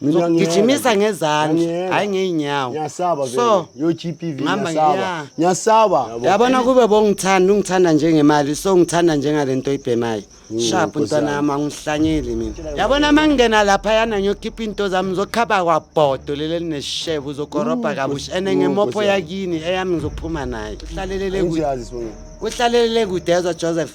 Mina ngiyeka Gijimisa nje. ngezandla, Ngiyeka. hhayi ngey'nyawo. Ngiyasaba vele. So, Yo GPV ngihamba ngiyasaba. ngiya. Ngiyasaba. Yabona kube bongithanda ungithanda njengemali so ngithanda njengale nto oyibhemayo sharp Nkosi ntwana yami. yami angihlanyeli mina yabona uma ngingena laphayana ngiyokhipha into zami ngizokhaba kwabhodo leli elinesheba uzokorobha kabusha ene ngemopho Nkosi yami. yakini eyami ngizophuma nayo uhlalelele kude Ngiyazi sibonga. uhlalelele kude ezwa joseph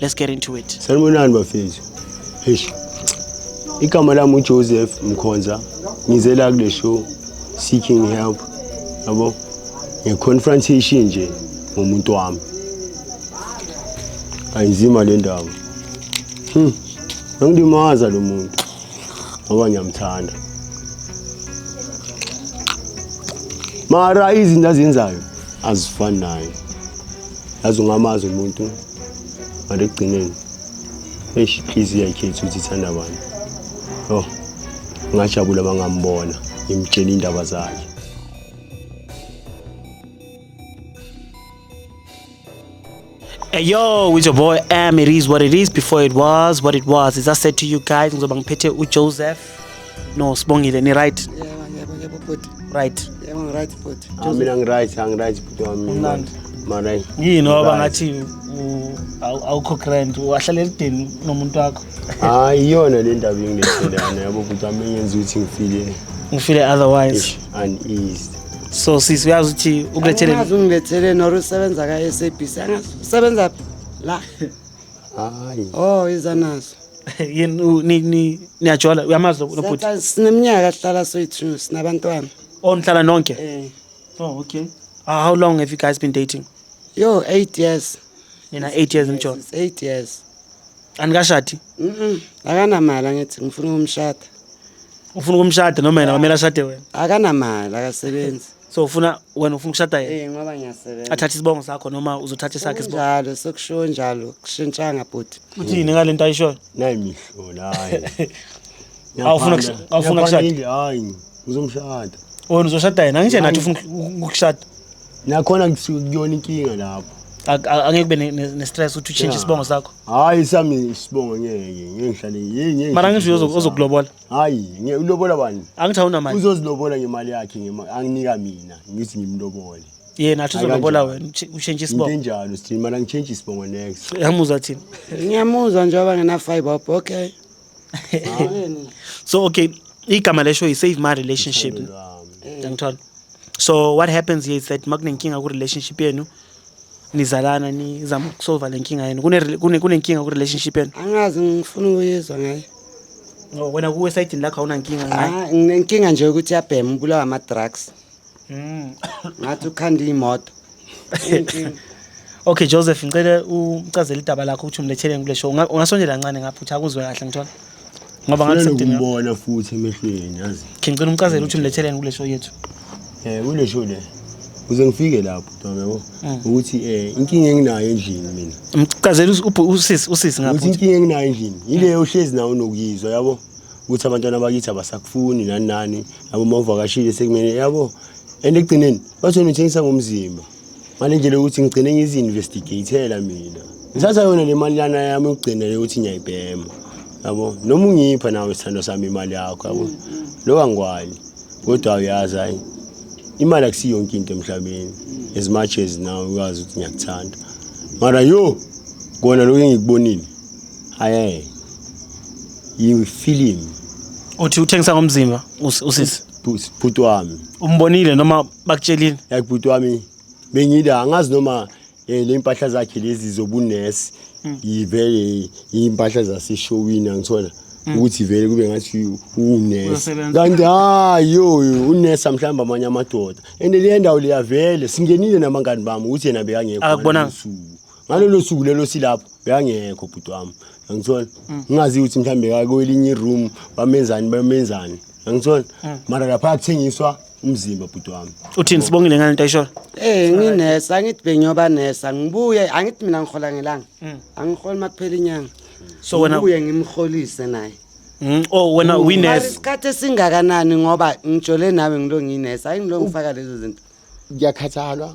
let's get into it sanibonani bafethu eish igama lami ujoseph mkhonza ngize la kule show seeking help yabo nge-confrontation nje ngomuntu wami ayinzima le ndaba hmm. angidimaza lo muntu ngoba ngiyamthanda mara izinto azenzayo azifani naye yazi ungamazi umuntu mara ekugcineni eish inhliziyo yakhetha ukuthi ithanda bani oh ngajabula bangambona ngimtshela indaba zakhe Hey yo, with your boy M. It is what it is before it was what it was. As I said to you guys, ngizobangiphethe uJoseph No, Sibongile ni right. Yebo, yebo, yebo bhuti. Right. Yebo ngi right bhuti. Ah, mina ngi right, angi right bhuti wami. Kumnandi. Mara Yini oba Right. ngathi u- awu- awukho grand wahlala elideni nomuntu wakho. hayi iyona le ndaba engidethelana yabo bhuti wami engenza ukuthi ngifile Ngifile otherwise. ish uneased. So sisi uyazi ukuthi ukulethele Angazi ungilethele nor usebenza ka-SABC. Angazi usebenza phi? La. Hayi. Oh, iza nazo. yini u- ni- ni- niyajola uyamazi lo- lo bhuti Siyahlala- sineminyaka sihlala soyi-two sinabantwana oh nihlala nonke um oh okay Ah, how long have you guys been dating yo eight years nina eight years nijola It's eight years anikashadi Mm-mm. akanamali angithi ngifuna ukumshada ufuna ukumshada noma yena kwamele ashade wena akanamali akasebenzi so ufuna wena ufuna ukushada yena Eh ngoba ngiyasebenza. athathe isibongo sakho noma uzothatha esakhe isibongo Njalo sokushiwo njalo kushintshanga bhuti. uthini ngalento ayishoyo nayi mihlo nayi Awufuna kush- awufuna kushada? Ngiyaphanda, hayi uzomshada wena uzoshada yena angitshe nathi ufuna uku- ukushada nakhona kusuke kuyona inkinga lapho Ak- a- angeke kube ne- ne- ne-stress ukuthi utshintshe Yeah. isibongo sakho hayi sami isibongo ngeke ngeke ngihlale yeye ngeke mara ngisho ngihlale uzo- isibongo sami. uzokulobola hayi nge- ulobola bani angithi awunamali uzozilobola ngemali yakhe ngema- anginika mina ngithi ngimlobole yena athi Hayi, uzolobola kanjani? wena utshe- ushintshe into isibongo enjalo sithini mali angitshentshe isibongo next yamuzwa thina ngiyamuzwa njengoba ngena-fiber up okay so okay igama lesho yi-save my relationship Thando lwami. ngithola so what happens here is that uma kunenkinga ku-relationship yenu nizalana nizama ukusolva le nkinga yenu Kune- kune- kunenkinga ku-relationship yenu angazi ngifuna ukuyizwa ngaye No, wena kuwe esayidini lakho awunankinga nqa. Ah, nginenkinga nje ukuthi yabhema ubulawa ama drugs. Mm. Ngathi ukhanda imoto. Inkinga. Okay Joseph ngicela ucazele idaba lakho ukuthi umletheleni kule show. Unga- Ungasondela kancane ngapha uthi akuzwe kahle ngithola. Ngoba ngathi Ngicela sengidinga. ukumbona futhi emehlweni yazi. Ngicela umcazele ukuthi umletheleni kule show yethu. Eh kule show le. Uze ngifike lapho. yabo mm. ukuthi eh inkinga enginayo endlini mina mchazela usisi usisi ngapha ukuthi inkinga enginayo endlini yileyo uhlezi nawo nokuyizwa yabo ukuthi abantwana bakithi abasakufuni nani nani yabo mawuvakashile sekumele yabo and ekugcineni bathi wena uthengisa ngomzimba ngale ndlela yokuthi ngigcine ngizi-investigatela mina ngithatha yona le mali lana yami ukugcina le ukuthi ngiyayibhema yabo noma ungipha nawe isithando sami imali yakho yabo mm, mm. loku angikwayi kodwa uyazi hayi imali akusiyo yonke into emhlabeni as much as now ukwazi ukuthi ngiyakuthanda mara yo kona lokho engikubonile hayi you feel him uthi uthengisa ngomzimba us- usisi bhuti bhuti wami umbonile noma bakutshelile like bhuti wami bengila angazi noma Eh lempahla zakhe lezi zobunesi mm. ivele impahla zaseshowini angithola mm. ukuthi vele kube ngathi unesi kanti hayi yoyo unesa mhlawumbe amanye amadoda and le ndawo liyavele singenile namangani bami ukuthi yena bekangekho akubonanga ngalolo suku lelo silapho bekangekho bhuti wami angithola mm. ngingazi ukuthi mhlawumbe kakwelinye iroom bamenzani bamenzani angithola mara lapha kuthengiswa umzimba bhuti wami uthini sibongile ngane ntayishola eh nginesa ngithi bengiyoba nesa ngibuye angithi mina ngihola ngelanga mm. angiholi makuphela inyanga so wena ubuye ngimholise naye Mm, oh wena winess. Isikhathi esingakanani ngoba ngijole nawe ngilo nginess. Hayi ngilo ngifaka lezo zinto. Ngiyakhathalwa.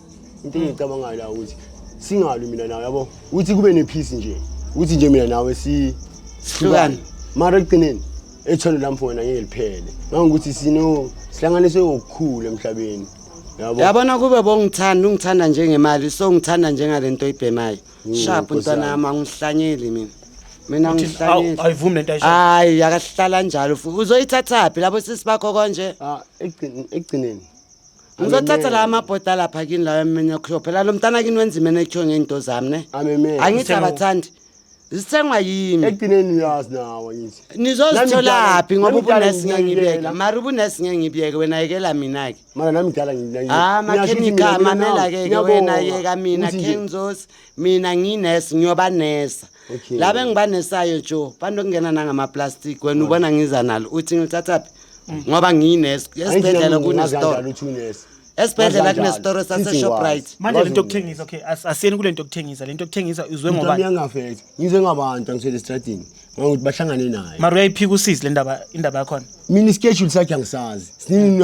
into engiyicabangayo la ukuthi singalwi mina nawe yabo ukuthi kube nephisi nje ukuthi nje mina nawe si Sihlukane. mara ekugcineni ethondo lami for wena ngeke liphele ngangokuthi sino sihlanganiswe ngokukhulu emhlabeni yabo yabona kube bongithanda ungithanda njengemali so ngithanda njengale nto oyibhemayo Mm, sharp Nkosi ntwana yami. yami angihlanyeli mina mina Awu, angihlanyeli ayivumi lento ayisho. hayi yakahlala njalo futhi uzoyithathaphi labo sisi bakho konje Ah, ekugcin- ekugcineni ngizothatha la amabhodi alapha kini lawo emini yokuhlo phela lo mntana kini wenza imene ekhiwe ngey'nto zami ne ameme angithi abathandi zithengwa yimi ekugcineni uyazi nawo ngithi nizozitholaphi ngoba ubunesi ngeke ngibeke mara ubunesi ngeke ngibeke wena yekela mina-ke mara nami ngidala Ah, makhenika mamela-ke ke wena yeka mina khenzosi mina nginesi ngiyobanesa okay. laba engibanesayo jo banokungena nangamaplastic wena ubona ngiza nalo uthi ngilithathaphi mm. ngoba ngiyineso esibhedlela kunestore esibhedlela kunesitoro saseshoprite manje lento yokuthengisa okay asiyeni kule nto yokuthengisa le nto yokuthengisa izwe ngoba ngiyangafethi ngizwe ngabantu angisele estradini ngokuthi bahlangane naye mara uyayiphika usizi le ndaba indaba yakhona mina ischedule sakhe angisazi siningi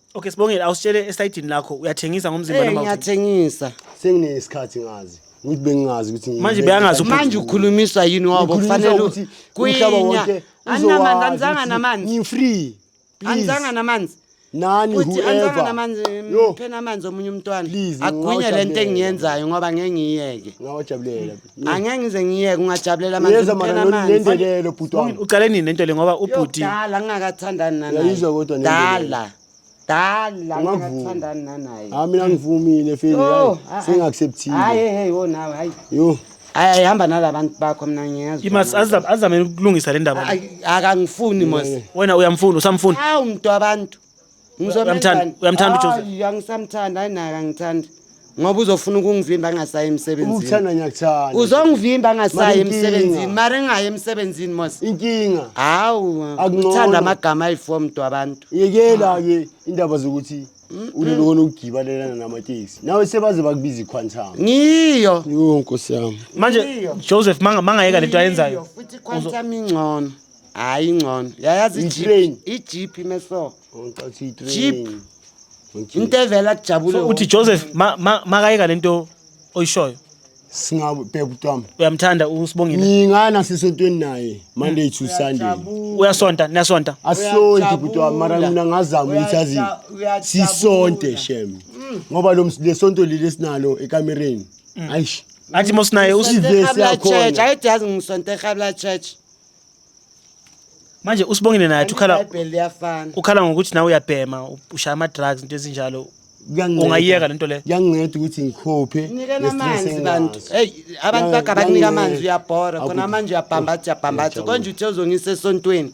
Okay Sibongile awusitshele esayidini lakho uyathengisa ngomzimba Eh noma awuthengi? ngiyathengisa. Senginesikhathi ngazi. Ukuthi bengingazi ukuthi ngi- Manje beyangazi ukuthi- Manje ukhulumiswa yini wabo Ngikhulumisa kufanele ukuthi umhlaba kwinya. wonke Aninamanzi uzowazi anzanga ukuthi namanzi. Ngi-free. Please. Anzanga namanzi. Nani Futhi anzanga whoever. namanzi Yo, phena amanzi omunye umntwana. Please, Agwinye lento ngingawujabulela. engiyenzayo ngoba ngeke ngiyeke. ngawajabulela. angeke ngize ngiyeke ungajabulela amanzi Yeza mara ngicela lolu amanzi. lendelelo bhuti wami. uqale nini lento le ngoba ubhuti Yodala ngingakathandani nanaye. Uyayizwa kodwa nento Dala. Dala Ungavumi. ngingakathandani nanaye. Hayi mina ngivumile feli. Yo, hayi, ah, ah. Sengiacceptile. Hayi hey wo nawe hayi. Yo. Hayi hayi, hamba nalabantu bakho mina ngiyazwa. imas azame ukulungisa le ndaba Ay, akangifuni mos. wena uyamfuna usamfuna Hawu mntu wabantu. Uyamthanda- uyamthanda uJoseph? Hayi, angisamthandi hayi naye angithandi ngoba uzofuna ukungivimba angasayi emsebenzini ukuthanda ngiyakuthanda uzongivimba angasayi Mara inkinga. emsebenzini mara engayi emsebenzini mos inkinga hawu Akungcono. uthanda amagama ayi-four mntu abantu yekela-ke indaba zokuthi ulele kona ukugibalelana namateksi nawe sebaze bakubiza iquantum ngiyo yo nkosi yami manje joseph manga- mangayeka lento ayenzayo futhi iquantum ingcono hayi ingcono yayazi I-train. ijip ijip imeso Ngicela ukuthi i-train. Jeep. Ngijip. into evela kujabule so uthi joseph ma- ma- makayeka le nto oyishoyo Singabheka utwami. uyamthanda usibongile Ngingana sisontweni naye Monday to Sunday. uyasonta niyasonta asonti bhuti wami mara Uyajabula. mina ngazama ukuthi azi Uyaja- uyajabula. sisonte shem ngoba lo ms- lesonto leli esinalo ekamereni ayish athi mosinaye usi Ivesi yakhona. church ayithi yazi ngisonte ehabla church manje usibongile naye athi ukhala ibhayibheli liyafana ukhala ngokuthi nawe uyabhema ushaya ama-drugs into ezinjalo Kuyanginceda. ungayiyeka le nto leyo kuyanginceda ukuthi ngikhophe nikeni nge-stress amanzi enginaso. bantu eyi abantu Kuyangi- bagaba kunika amanzi kuyanginceda. uyabhora khona Akuthi- manje uyabhambatha uyabhambatha Ngiyajabula. konje uthe uzongisa esontweni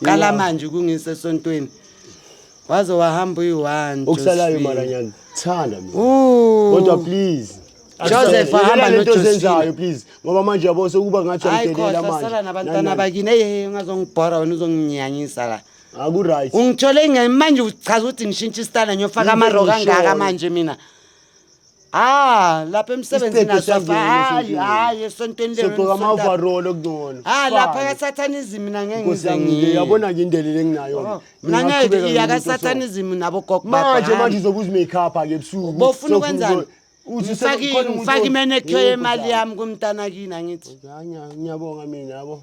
qala Yingakho. manje ukungisa esontweni waze wahamba uyi-one okusalayo mara ngiyakuthanda mina kodwa please joseph ahamba nojosephine please ngoba manje yabo sekuba ngathi angidelela manjeasala nabantwana bakini eyeye ungazongibhora wena uzonginyanyisa la akuright ungithole manje uchaza ukuthi ngishintshe isitana ngiyofaka amaroko angaka manje mina Ah, lapha emsebenzini Isitebhe asafa. siyangena Hayi, esontweni. hayi esontweni lelo. Sogqoka ama nisonta- overall okungcono. Ah, lapha Fine. kasathanizimu nangeke Nkosi ngize yami, ngiye. yabona ke indlela engingayo. Oh, Mina nangeke ngiqhubeka iya ngimuntu oso- kasathanizimu nabo gogo baba, Manje hhayi. manje uzobe uzimake up ke ebusuku. bofuna Sofuna ukwenzani uzo- uthi Ngifake- sekukhona umuntu ngifake o- imenekhe Yebo, yemali Nkosi yami kumntanakini angithi Yami, ngiya- ngiyabonga mina yabo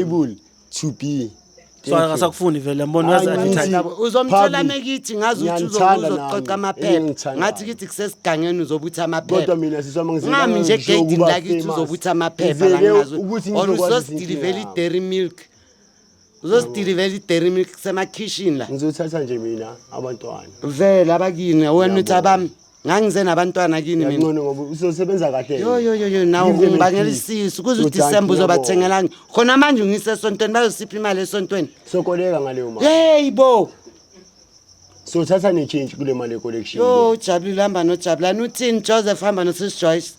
Able to be. Swana ngasakufuni vele mbona uyazi Hayi, advertise. ngithi- Nabo, uzomthola Public. mekithi ngazi ukuthi Ngiyanithanda uzo- uzoqoqa nami. amaphepha Engithanda. ngathi kithi kusesigangeni uzobutha Kodwa amaphepha mina siswa mangizela ungami nje ngizisho egeyidini ukuba lakithi famous. uzobutha amaphepha Ngizele langingazi ukuthi or ngizokwazi uzosidilivela izinkinga. idairy milk uzosidilivela idairy milk kusemakhishini la Ngizothatha nje mina abantwana. vele abakini wena uthi abami ngangize nabantwana kini mina ngcono ngoba uzosebenza kahle yo yo yo yo nawe Ngizwe ungibangela ngiphile. isisu kuze Uzothi udisemba angiyabo. uzobathengelani khona manje ungise esontweni bayosipha imali esontweni sokoleka ngaleyo mali yeyi bo sothatha ne-change kule mali ye-collection yo ujabulile hamba nojabulani uthini joseph hamba nosis joyce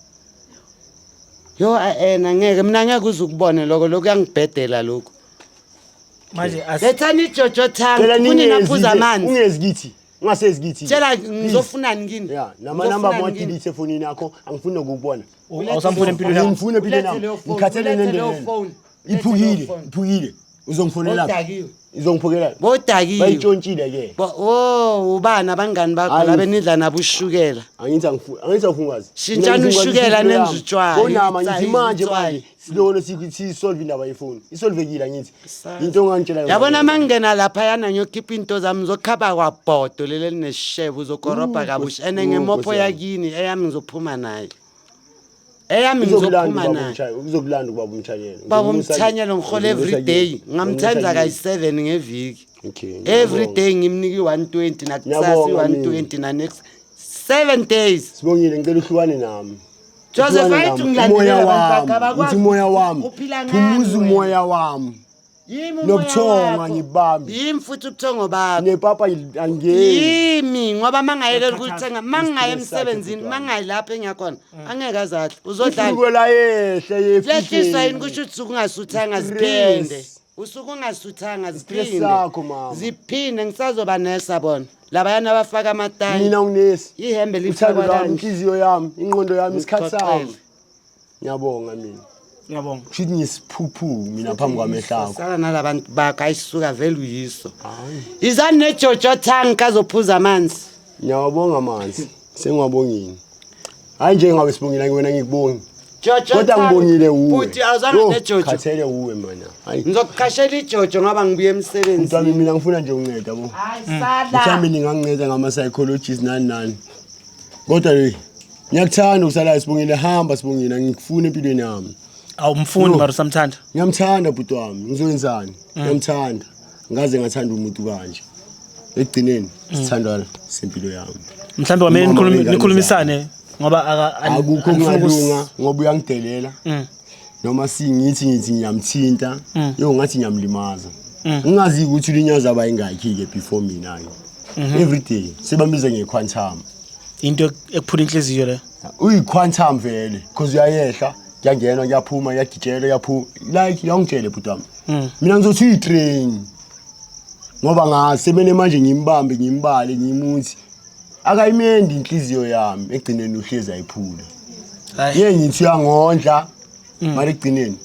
yo a-ena ngeke mina ngeke uze ukubone loko lokhu kuyangibhedela lokhu manje as- lethani ijojo Cela thangi kunina phuza ningezi- amanzi ungezi kithi ungasezi kithi tshela ngizofunani kini ya nama number mo delete efonini yakho angifuni nokukubona awusamfuni empilweni yakho ngifuni empilweni yakho ngikhathele nendele iphukile iphukile uzongifonela udakiwe izongiphukela bodakiwe bayitshontshile ke oh ubana abangani bakho labe nidla nabo ushukela angithi angithi awufungazi shintshani ushukela nenza utshwala konama ngithi manje manje silona siyisolve indaba yefoni isolvekile angithi into ongangitshela yona yabona uma ngingena laphayana ngiyokhipha into zami ngizokhaba kwabhodo leli elineshebe uzokorobha Mm, kabusha Nkosi- ene mm, ngemopho Nkosi yami. yakini eyami ngizophuma nayo eyami uzokulanda ngizophuma ubaba nayo umthanyelo uzokulanda ubaba umthanyelo baba umthanyelo ngihola everyday ngamthanda kayi-seven ngeviki okay every day ngimnika i-one twenty nakusasa Ngiyabonga i-one mina. twenty nanext seven days sibongile ngicela uhlukane nami Joseph ayithi ngilandela abantu bakhe abakwazi umoya wami phumuza umoya wami nobuthongo angibambi yimi futhi ubuthongo bakho nepapa angiyeni yimi ngoba mangayekela ukuthenga mangaye emsebenzini mangayi lapho engiyakhona mm. angeke azahle uzodlala yehle yehle yehliswa yini kusho ukuthi ukungasuthanga ziphinde usuke ungasuthanga ziphinde ziphinde ngisazoba nesa bona labayana abafaka amatayi mina unesi ihembe lithanda lifakwa lami kanje inhliziyo yami inqondo yami isikhathi sami Ngikuxoxele. ngiyabonga mina Ngiyabonga. kusho ukuthi ngisiphuphu mina phambi kwamehlo akho sala nalabantu bakho ayisuka vele uyiso Hayi. izani nejojo thangi kazophuza amanzi ngiyawabonga amanzi Sengwabongini. Hayi nje ngabe sibongile ngiwena ngikubongi. Jojo Kodwa cha, ngibongile uwe. Bhuti awuzanga Yo, nejojo. Khathele uwe mana. Hayi. Ngizokuqashela ijojo ngoba ngibuye Mntwana emsebenzini. mina ngifuna nje unceda bo. Hayi Mhlawumbe sala. ninganginceda ngama psychologists nani nani. Kodwa hey, ngiyakuthanda ukusala sibongile hamba sibongile ngikufuna empilweni yami. awumfundi No. mara usamthanda Ngiyamthanda bhuti wami. Ngizoyenzani? Ngiyamthanda. ngaze ngathanda umuntu kanje ekugcineni mm. sithandwana sempilo yami mhlawumbe kwamele nikhulumisane ngoba akukho kungalunga ngoba uyangidelela mm. noma singithi ngithi ngiyamthinta mm. yo ngathi ngiyamlimaza ngingazi ukuthi ulinyaza abayingakhi-ke before mina-ke mhm. every day sebambize ngequantum into ekuphula inhliziyo le uyiquantum vele because uyayehla kuyangenwa kuyaphuma kuyagitshelwa kuyaphuma like yawungitshele bhuti wami Mm. mina ngizothi uyi-train ngoba ngasemene manje ngimbambe ngimbale ngimuthi akayimendi inhliziyo yami ekugcineni uhlezi ayiphula Hayi. ye ngithi uyangondla Mm. mara ekugcineni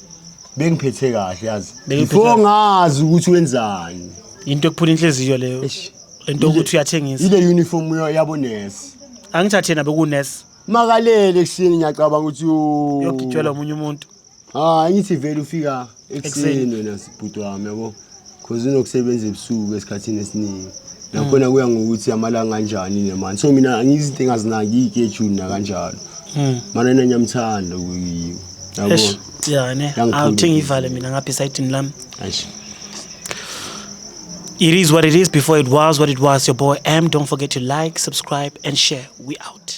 bengiphethe kahle yazi Bengiphethe before kahle. ngazi ukuthi wenzani Into ekuphula inhliziyo leyo. Eish. Lento ukuthi uyathengisa. ile uniform yo- yabonesi Angithathe nabe kunurse makalele ekuseni ngiyacabanga ukuthi yo- yogitshwela omunye umuntu. Ah, ngithi vele ufika ekuseni wena sibhuti wami yabo. Cause unokusebenza ebusuku esikhathini esiningi. Nakhona kuya ngokuthi amalanga anjani ne man. So mina ngizinto engazinaki iketshuni nakanjalo. Mana nina ngiyamthanda kuyiyo. Yabo. Eish, ya ne Yangikhulula. awuthi ngiyivale mina ngapha esayidini lami Eish. it is what it is before it was what it was your boy m don't forget to like subscribe and share we out